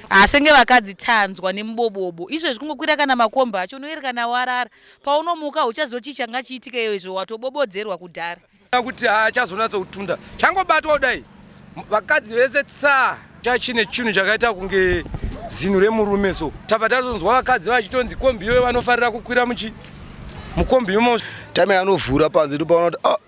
asenge vakadzi tanzwa nemubobobo izvezvi kungokwira kana makomba acho unoerekana warara paunomuka uchazochii changa chiitika iyo izvo watobobodzerwa kudhara kuti haachazonatsa kutunda changobatwa kudai vakadzi vese tsaa chachine chinhu chakaita kunge zinhu remurume so tava tazonzwa vakadzi vachitonzi kombi iwe vanofarira kukwira muchi mukombi imo time anovhura panze ndopaona kuti ah,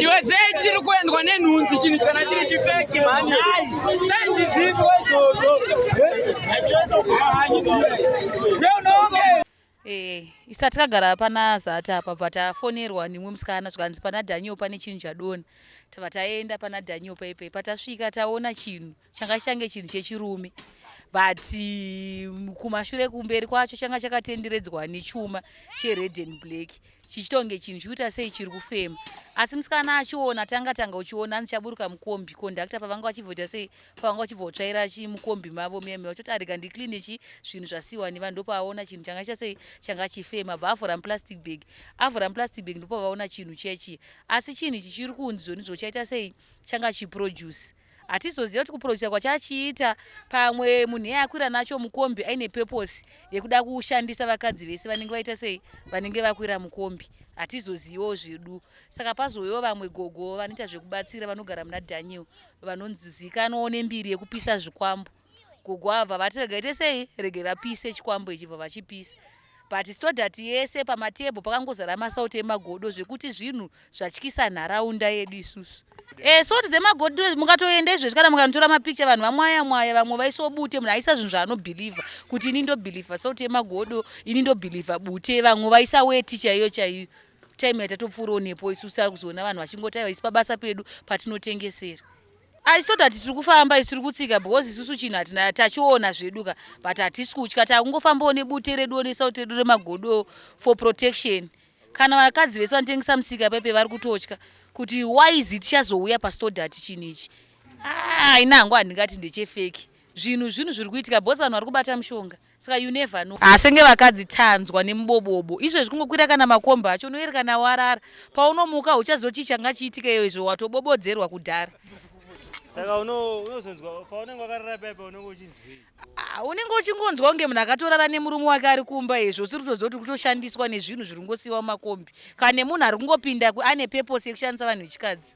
iwe sei chiri kuendwa nenhunzi chinhu kana chiri chifeki mani Eh, isa tikagara pana zata apa bva tafonerwa nimwe musikana zvikanzi pana daniel pane chinhu chadona tava taenda pana daniel paipai patasvika taona chinhu changa change chinhu chechirume but mm, kumashure kumberi kwacho changa chakatenderedzwa nechuma chered and black chichitonge chinhu chikuita sei chiri kufema asi musikana achiona tanga tanga uchiona ndichaburuka mukombi kondakta pavanga vachibvoita sei pavanga vachibva kutsvaira chi mukombi mavo meme vachoti arega ndicline chi zvinhu zvasiwa nevanhu ndopavaona chinhu changa chiita sei changa chifema bva avhura muplastic bag avhura muplastic bag ndopavaona chinhu chechi asi chinhu ichi chiri kunzi zvoni zvochaita sei changa chiproduce hatizoziva kuti kuproducer kwacho achiita pamwe munhu iye akwira nacho mukombi aine purpose yekuda kushandisa vakadzi vese vanenge vaita sei vanenge vakwira mukombi hatizozivawo zvedu saka pazouyawo vamwe gogo vanoita zvekubatsira vanogara muna daniel vanonzikanwawo nembiri yekupisa zvikwambo kugwavha vati regai tesei regai vapise chikwambo ichibva vachipisa but stodat yese pamatebho pakangozara masauti emagodo zvekuti zvinhu zvatyisa nharaunda yedu isusu e, eh, soti dzemagodo mukatoenda izvezvi kana mukanotora mapikicha vanhu vamwaya mwaya vamwe vaisobute munhu aisa zvinhu zvaanobhilivha kuti ini ndobhilivha sauti yemagodo ini ndobhilivha bute vamwe vaisa weti chaiyo chaiyo time yatatopfuura onepo isusu akuzoona vanhu vachingotaiwa isi pabasa pedu patinotengesera I thought that tiri kufamba isu tiri kutsika because isusu chinhu hatina tachiona zvedu ka but hatisi kutya takungofambawo nebute reduwo nesauti redu remagodo for protection kana vakadzi vese vanotengesa musika pepe vari kutotya kuti wise tichazouya pastodati chinhu ichi ah, haina hangu handingati ndechefeki zvinhu zvinhu zviri kuitika bhos vanhu vari kubata mushonga saka you never know asenge vakadzi tanzwa nemubobobo izvo zvikungokwira kana makomba acho unoerekana warara paunomuka uchazochii changa chiitika iyo izvo watobobodzerwa kudhara saka unozonzwa paunenge wakarara paipa unenge uchinzwei ah, unenge uchingonzwa kunge munhu akatorara nemurume wake ari kumba izvo usiri kutoziva kuti kutoshandiswa nezvinhu zviri kungosiyiwa mumakombi kana nemunhu ari kungopinda ane peposi yekushandisa vanhu vechikadzi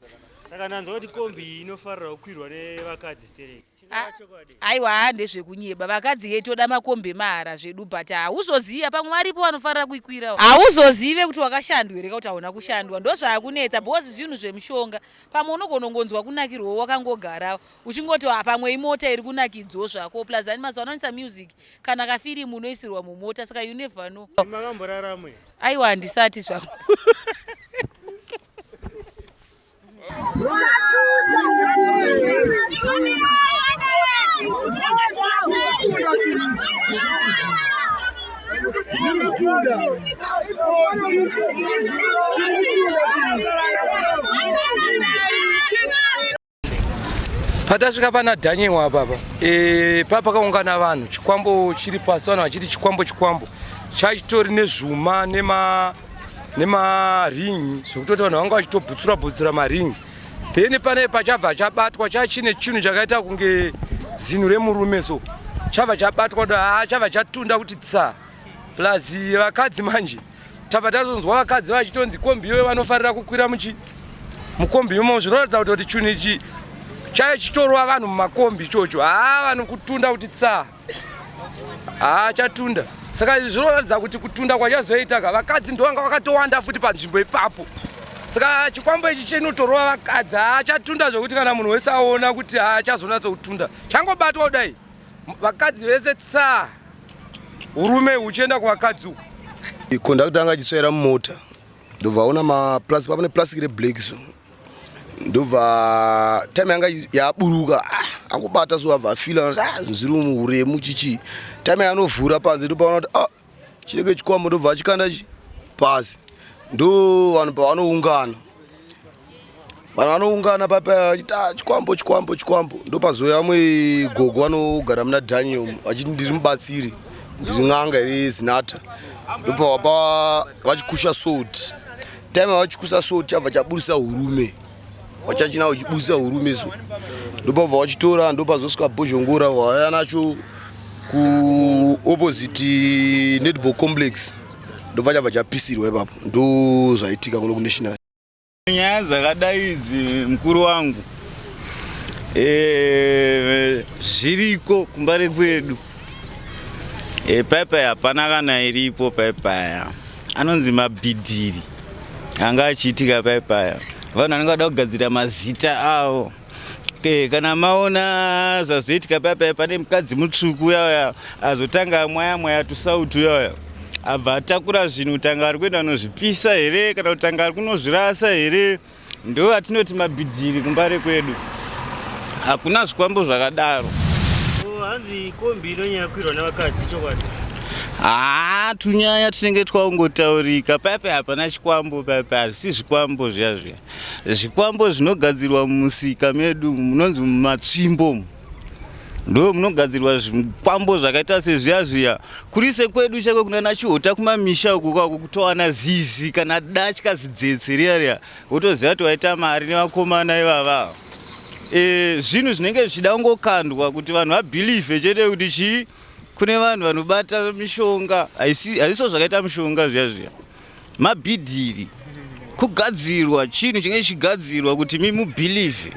saka ndanzwa kuti kombi iyi inofarira kukwirwa nevakadzi stereki Ah, aiwa haa ndezvekunyeba vakadzi yei toda makombi emahara zvedu but hauzoziva pamwe varipo vanofarira kuikwirawo hauzozive kuti wakashandwa here ka kuti hauna kushandwa ndozvaakunetsa because zvinhu zvemushonga pamwe unogona kungonzwa kunakirwawo wakangogarawo uchingoti "Ah, pamwe imota iri kunakidzawo zvako plus ani mazuva anoisa music kana kafirimu unoisirwa mumota saka you never know makamboraramo aiwa handisati zvangu patasvika pana daniel apapa e, papa pakaungana vanhu chikwambo chiri pasi vanhu vachiti chikwambo chikwambo chaitori nezvuma nema nemaringi zvekutoti vanhu vanga vachitobhutsura bhutsura maringi then pane pachabva chabatwa chachine chinhu chakaita kunge zinhu remurume so chabva chabatwa ah, chabva chatunda kuti tsa plus vakadzi manje tabva tazonzwa vakadzi vachitonzi kombi iyoyo vanofarira kukwira muchi mukombi imomo zvinoratidza kuti kuti chinhu ichi chaichitorwa vanhu mumakombi ichocho haa ah, vanhu kutunda kuti tsaa haa chatunda saka zvinoratidza kuti kutunda kwachazoita ka vakadzi ndovanga vakatowanda futi panzvimbo ipapo saka chikwambo ichi chinotorova vakadzi haa chatunda zvekuti kana munhu wese aona kuti haa chazonatsa kutunda changobatwa kudai vakadzi vese tsaa urume huchienda kuvakadzi uku ikondakta anga achisvaira mumota ndobva aona maplastic pamene plastic reblack so ndobva time yanga yaburuka ah, akubata so abva afila ah, zviri muhuremu chichi time yanovhura panze ndopaona kuti ah, chinenge chikwambo ndobva achikanda chi pasi ndo vanhu pavanoungana vanhu vanoungana papa achiti chikwambo chikwambo chikwambo ndopazouya vamwe gogo vanogara muna daniel vachiti ndiri mubatsiri ndiri n'anga iri zinata ndopavapa vachikusha soti time vachikusa so chabva chaburitsa urume wachachina uchiburitsa urume so ndopabva wachitora ndopazosvika bhozhongora waya nacho kuopposite netball complex ndobva chabva chapisirwa ipapo ndozvaitika kuno kunational nyaya dzakadai idzi mukuru wangu eh, zviriko kumba rekwedu eh, paipai hapana kana iripo paipaya anonzi mabhidhiri anga achiitika pai paya vanhu vanenge vada kugadzira mazita avo okay, kana maona zvazoitika pai paya pane mukadzi mutsvuku uyauya azotanga amwaya mwaya tusauti uyauya abva atakura zvinhu kutanga ari kuenda kunozvipisa here kana kutanga ari kunozvirasa here Ndo atinoti mabhidhiri kumbare kwedu. Hakuna zvikwambo zvakadaro. Oh, hanzi kombi inonyanya kuirwa nevakadzi chokwadi. Haa tunyaya tinenge twaungotaurika paipai hapana chikwambo paipai hazvisi zvikwambo zviya zviya zvikwambo zvinogadzirwa mumusika medu munonzi mumatsvimbo ndo munogadzirwa zvikwambo zvakaita sezviya zviya kuri sekwedu chako kunana chihota kumamisha uku kwako kutowana zizi kana datya zidzetse riya riya wotoziva kuti waita mari nevakomana ivava e, zvinhu zvinenge zvichida kungokandwa kuti vanhu vabhilivhe chete kuti chii kune vanhu vanobata mishonga haisiso zvakaita mishonga zviya zviya Mabhidhiri kugadzirwa chinhu chinge chichigadzirwa kuti mimubhilivhe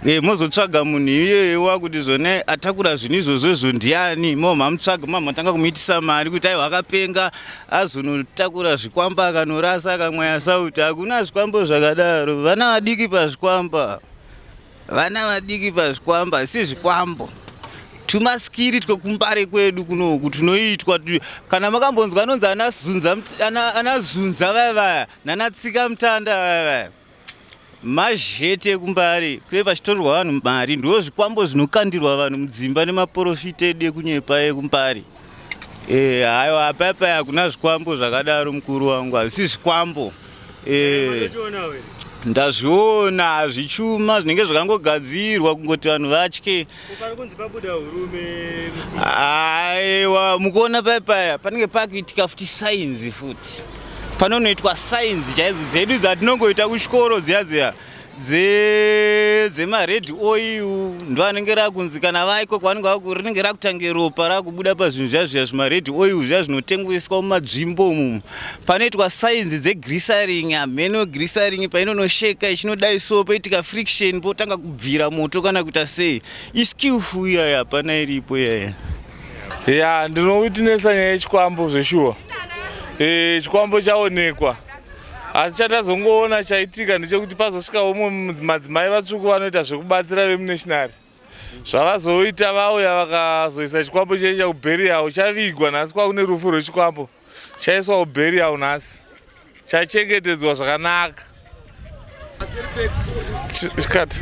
e, eh, mozotsvaga munhu iyeye wakuti zvone atakura zvinhu izvozvo izvo ndiani mo mamutsvaga ma matanga kumuitisa mari kuti aiwa akapenga azonotakura zvikwamba akanorasa akamwaya sauti hakuna zvikwambo zvakadaro vana vadiki pazvikwamba Vana vadiki pazvikwambo asi zvikwambo tumaskiri twekumbare kwedu kunoku tunoitwa kana makambonzwa anonzi anazunza vaya vaya nanatsika mutanda vaya vaya mazhete ekumbare kune vachitorerwa vanhu mari ndo zvikwambo zvinokandirwa vanhu mudzimba nemaporofita edu ekunyepa ekumbare Eh, hayo apapa hakuna zvikwambo zvakadaro mukuru wangu hazvisi zvikwambo eh, ndazviona hazvichuma zvinenge zvakangogadzirwa kungoti vanhu vatye aiwa mukuona paya paya panenge pakuitika futi sainzi futi panonoitwa sainzi chaidzo dzedu dzatinongoita kuchikoro dziya dziya dze dzemared oil ndo anenge rakunzi kana vaiko kwavanenge vaku rinenge rakutange ropa rakubuda pazvinhu zviya zviya zvimared oil zviya zvinotengeswa mumadzvimbo umu panoitwa sainzi dzegrisaring hameno grisaring painonosheka ichinodai so poitika friction potanga kubvira moto kana kuita sei iskillful iyaya hapana iripo iyaya ya ndinowitnesa nyaya yechikwambo zveshuwa e, chikwambo chaonekwa asi chatazongoona chaitika ndechekuti pazosvika umwe madzimai vatsvuku vanoita zvekubatsira vemunationary zvavazoita vauya vakazoisa chikwambo chei chakubheriyawo chavigwa nhasi kwakune rufu rwechikwambo chaiswa kubheriyawo nhasi chachengetedzwa zvakanaka chikati